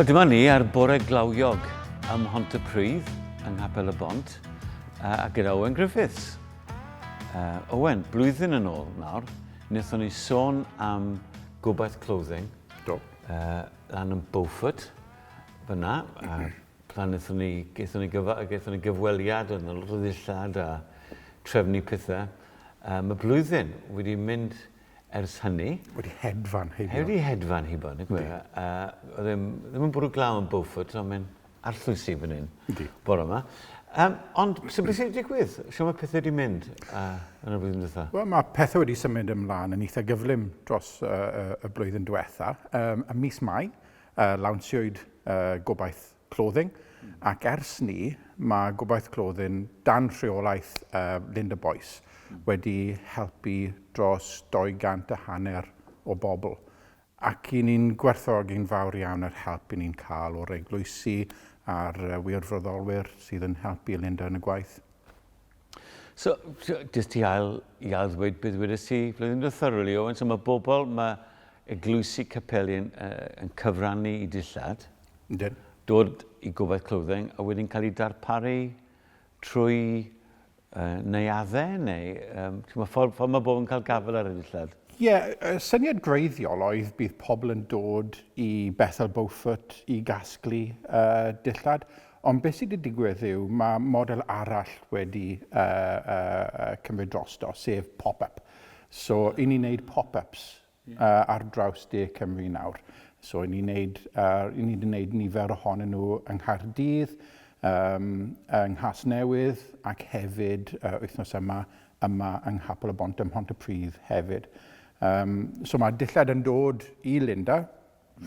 Wel, dyma ni ar bore glawiog ym Mhontypridd, yng Nghapel y Bont, a gyda Owen Griffiths. Uh, Owen, blwyddyn yn ôl nawr, wnaethon ni sôn am gobaith clothing. Do. Uh, lan yn Beaufort, fyna. Uh, plan wnaethon ni, gaethon ni, gyfa, gaethon ni gyfweliad yn y rhyddillad a trefnu pethau. Uh, mae blwyddyn wedi mynd ers hynny. Wedi hedfan heibio. Wedi hedfan heibio, yn y gwe. Uh, ddim, ddim yn bwrw glaw yn Beaufort, ond mae'n arllwysi fan hyn. Ydy. Bore yma. Um, ond, sy'n beth sy'n digwydd? Sio mae pethau wedi mynd uh, yn y flwyddyn diwetha? Wel, mae pethau wedi symud ymlaen yn eitha gyflym dros uh, y blwyddyn diwetha. Um, y mis Mai, uh, lawnsiwyd uh, gobaith Clothing, ac ers 'ny mae Gobaith Clothing dan rheolaeth Linda Boyce wedi helpu dros 200 a hanner o bobl, ac 'y ni'n gwerthfawrogi'n fawr iawn yr help 'y ni'n cael o'r eglwysi a'r wirfoddolwyr sydd yn helpu Linda yn y gwaith. So, jyst ti ail i ail ddweud beth wedys ti flwyddyn diwethaf really, Owen, so mae bobl, mae eglwysi capeli yn, uh, yn cyfrannu i dillad. Ydyn. Dod i gobaith clothing a wedyn cael ei darparu trwy uh, neuaddau neu um, mae ffordd, ffordd mae bobl yn cael gafel ar y dillad? Ie, yeah, y syniad greiddiol oedd bydd pobl yn dod i Bethel Beaufort i gasglu uh, dillad, Ond beth sydd wedi digwydd yw mae model arall wedi cymryd drosto, sef pop-up. So, i ni wneud pop-ups ar draws De Cymru nawr. So, i ni wneud, i ni wedi wneud nifer ohonyn nhw yng Nghaerdydd, yng Nghasnewydd ac hefyd wythnos yma, yma yng Nghapel y Bont ym Mhontypridd hefyd. So, mae dillad yn dod i Linda.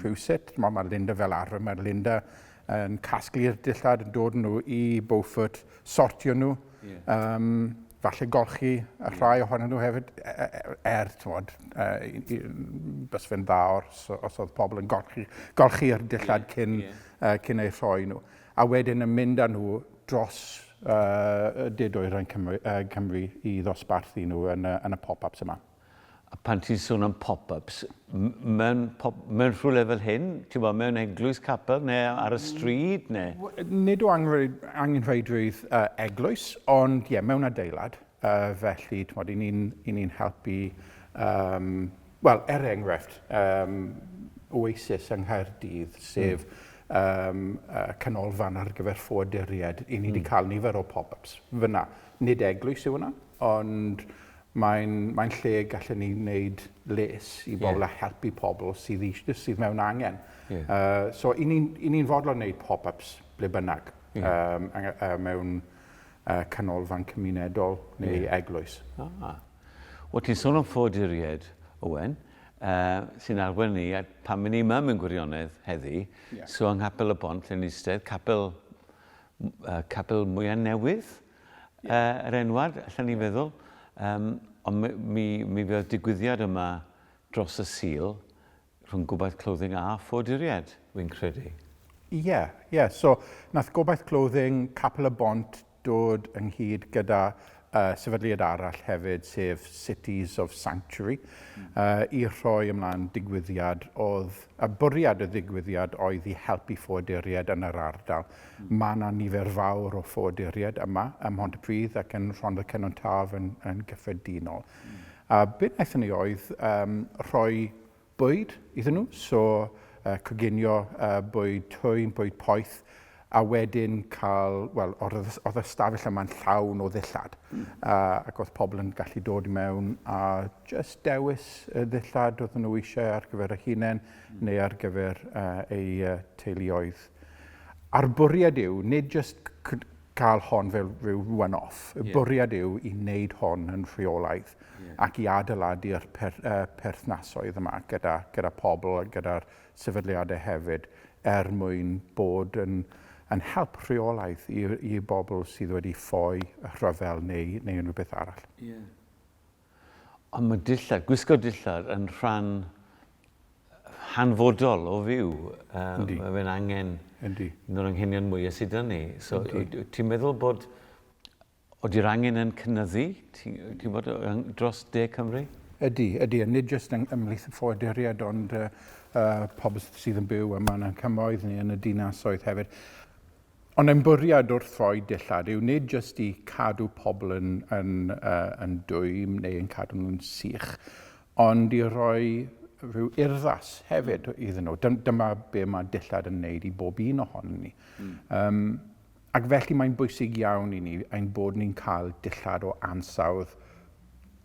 Rhywsut, timod, mae Linda fel arfer, mae Linda yn casglu'r dillad, yn dod nhw i Beaufort, sortio nhw, yeah. um, falle golchi y rhai ohonyn nhw hefyd, e, e, e, er, tywod, bys fe'n dda os, os oedd pobl yn golchi, golchi'r dillad yeah, cyn, yeah. Uh, cyn ei rhoi nhw. A wedyn yn mynd â nhw dros uh, did oer yn Cymru, uh, Cymru i ddosbarthu nhw yn, uh, yn y pop-ups yma. A pan ti'n sôn am pop-ups, mewn, pop, mewn rhywle fel hyn, ti'n bod, mewn eglwys capel neu ar y stryd neu? Nid o angenrheidrwydd uh, eglwys, ond ie, yeah, mewn adeilad. Uh, felly, ti'n bod, i ni'n ni helpu, um, wel, er enghraifft, um, Oasis yng Nghaerdydd, sef mm um, uh, canolfan ar gyfer ffoaduriaid, i ni wedi mm. cael nifer o pop-ups fyna. Nid eglwys yw hwnna, ond Mae'n mae'n lle gallen ni wneud les i bobl yeah. a helpu pobl sydd, sydd mewn angen. Yeah. Uh, so, i ni'n ni, ni fodlon wneud pop-ups ble bynnag yeah. um, uh, mewn uh, canolfan cymunedol neu yeah. eglwys. Ah. Wel, ti'n sôn am ffoduriaid, Owen, uh, sy'n arwain ni, a pan mynd ni yma mewn gwirionedd heddi, yeah. so yng Nghapel y Bont, lle ni eistedd, capel, uh, capel mwyaf newydd, uh, yr enwad, allan ni'n feddwl. Um, ond mi, mi, mi fydd digwyddiad yma dros y sil rhwng gobaith clothing a ffoduriad, wy'n credu. Ie, yeah, ie. Yeah. So, nath gobaith clothing Capel y Bont dod ynghyd gyda uh, sefydliad arall hefyd, sef Cities of Sanctuary, mm. uh, i rhoi ymlaen digwyddiad oedd, a bwriad y ddigwyddiad oedd i helpu ffoduriad yn yr ardal. Mae yna nifer fawr o ffoaduriaid yma ym Mhontypridd ac yn Rhondda Cynon Taf yn, yn gyffredinol. A be wnaethon ni oedd um, rhoi bwyd iddyn nhw, so uh, coginio uh, bwyd twyn, bwyd poeth, a wedyn cael, wel, oedd y stafell yma'n llawn o ddillad, mm. uh, ac oedd pobl yn gallu dod i mewn a just dewis y ddillad oedd nhw eisiau ar gyfer y hunain mm. neu ar gyfer uh, eu uh, teuluoedd. A'r bwriad yw nid jyst cael hon fel rhyw one off, y yeah. bwriad yw i wneud hon yn rheolaidd yeah. ac i adeiladu'r per, uh, perthnasoedd yma gyda, gyda pobl a gyda'r sefydliadau hefyd er mwyn bod yn, yn help rheolaidd i, i bobl sydd wedi ffoi rhyfel neu, neu unrhyw beth arall. Yeah. Ond mae dillad, gwisgo dillad yn rhan hanfodol o fyw. Um, mae fe'n angen Yndi. un o'r anghenion mwy sydd dyn ni. So, ti'n meddwl bod oeddi'r angen yn cynnyddu ti'n bod dros de Cymru? Ydy, ydy. A nid jyst yng ymhlith y ffoaduriaid, ond uh, uh, pobl sydd yn byw yma yn ein cymoedd ni yn y dinasoedd hefyd. Ond ein bwriad wrth roi dillad yw nid jyst i cadw pobl yn, yn, uh, yn dwym neu yn cadw nhw'n sych, ond i roi rhyw urddas hefyd mm. iddyn nhw. Dyma be mae dillad yn wneud i bob un ohono ni. Mm. Um, ac felly mae'n bwysig iawn i ni ein bod ni'n cael dillad o ansawdd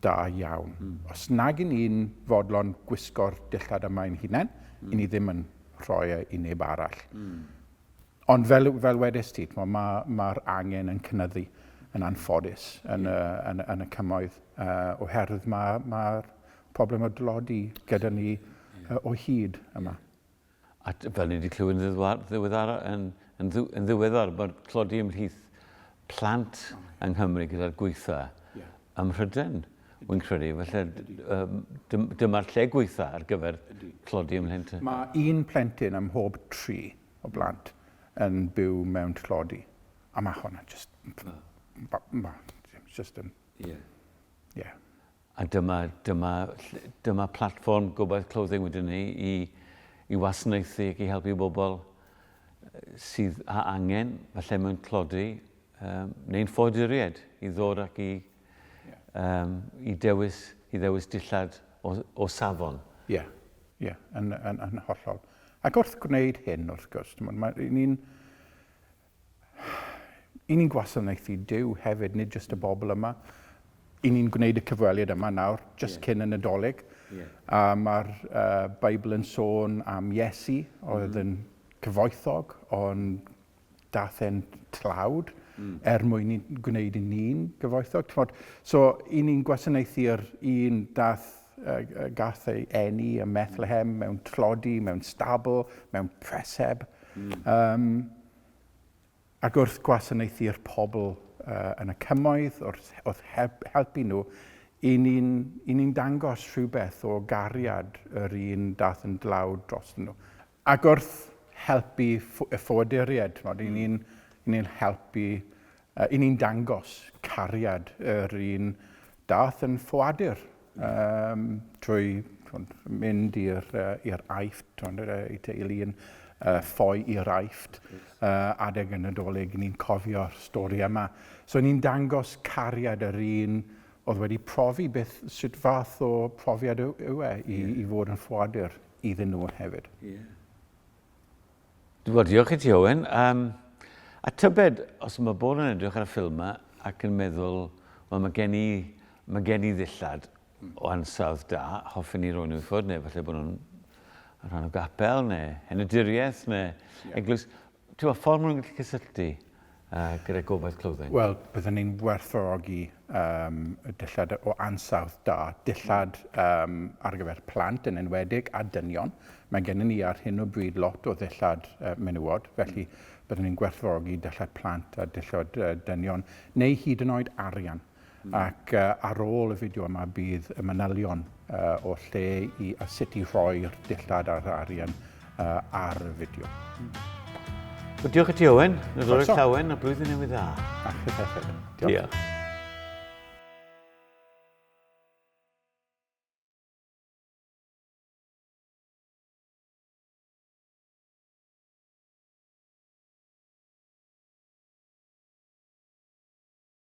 da iawn. Mm. Os nag i ni'n fodlon gwisgo'r dillad yma ein hunain, mm. i ni ddim yn rhoi e i neb arall. Mm. Ond fel, fel wedys ti, mae'r ma, ma angen yn cynnyddu yn anffodus yn, yeah. y, yn, yn y cymoedd uh, oherwydd mae'r ma, ma problem o dlodi gyda ni uh, o hyd yma. Yeah. A fel ni wedi clywed yn ddiweddar, yn, yn, yn ddiweddar bod tlodi ymhlith plant yng Nghymru gyda'r gweitha yeah. ym Mhryden, wy'n credu. Felly um, dyma'r lle gweitha ar gyfer tlodi ymhlith. Mae un plentyn ym mhob tri o blant yn byw mewn tlodi. A mae hwnna jyst... jyst yn... Ie. Ie. A dyma, dyma, dyma platfform Gobaith Clothing wedyn ni i, i wasanaethu ac i helpu bobl sydd â angen, falle mewn tlodi, um, neu'n ffoaduried, i ddod ac i um, i, dewis, i ddewis dillad o, o safon. Ie, yeah. ie, yeah. yn, yn, yn hollol. Ac wrth gwneud hyn, wrth gwrs, mae ni'n i ni'n gwasanaethu Dyw hefyd, nid jyst y bobl yma. I ni'n gwneud y cyfweliad yma nawr, jyst yeah. cyn y Nadolig. Yeah. A mae'r uh, Beibl yn sôn am Iesu, oedd mm. yn cyfoethog, ond daeth e'n tlawd er mwyn i gwneud i ni'n gyfoethog, t'mod? So, i ni'n gwasanaethu yr un daeth, yy, gath ei eni ym Methlehem, mewn tlodi, mewn stabl, mewn preseb, yym, ac wrth gwasanaethu'r pobl, yy, yn y cymoedd, wrth, wrth help, helpu nhw, i ni'n, i ni'n dangos rhywbeth o gariad yr un daeth yn dlawd drostyn nhw. Ac wrth helpu y ffoaduriaid, ch'mod, 'yn ni'n 'yn ni'n helpu yy 'yn ni'n dangos cariad yr un dath yn ffoadur yym trwy ch'mod mynd i'r yy i'r Aifft t'mod yy ei teulu yn yy ffoi i'r Aifft yy adeg y Nadolig 'yn ni'n cofio'r stori yma. So 'yn ni'n dangos cariad yr un o'dd wedi profi beth sut fath o profiad yw yw e i i fod yn ffoadur. iddyn nhw hefyd. Yeah. Wel, diolch i ti, Owen. Um, a tybed, os mae bod yn edrych ar y ffilm yma ac yn meddwl, wel, mae gen i, mae gen i ddillad o ansawdd da, hoffen ni roi'n wrthod, neu falle bod nhw'n rhan o gapel, neu henaduriaeth, neu yeah. eglwys. T'wod, ffordd ma' nhw'n gallu cysylltu gyda gobaith clothing? Wel, bydden ni'n werthfawrogi um, y dillad o ansawdd da, dillad um, ar gyfer plant yn enwedig a dynion. Mae gennym ni ar hyn o bryd lot o ddillad uh, menywod, felly bydden ni'n gwerthfawrogi dillad plant a dillad uh, dynion, neu hyd yn oed arian. Ac ar ôl y fideo yma bydd y manylion o lle i a sut i rhoi'r dillad a'r arian ar y fideo. Wel, diolch i ti, Owen. Nadolig llawen a blwyddyn newydd dda. A chi hefyd. Diolch. diolch.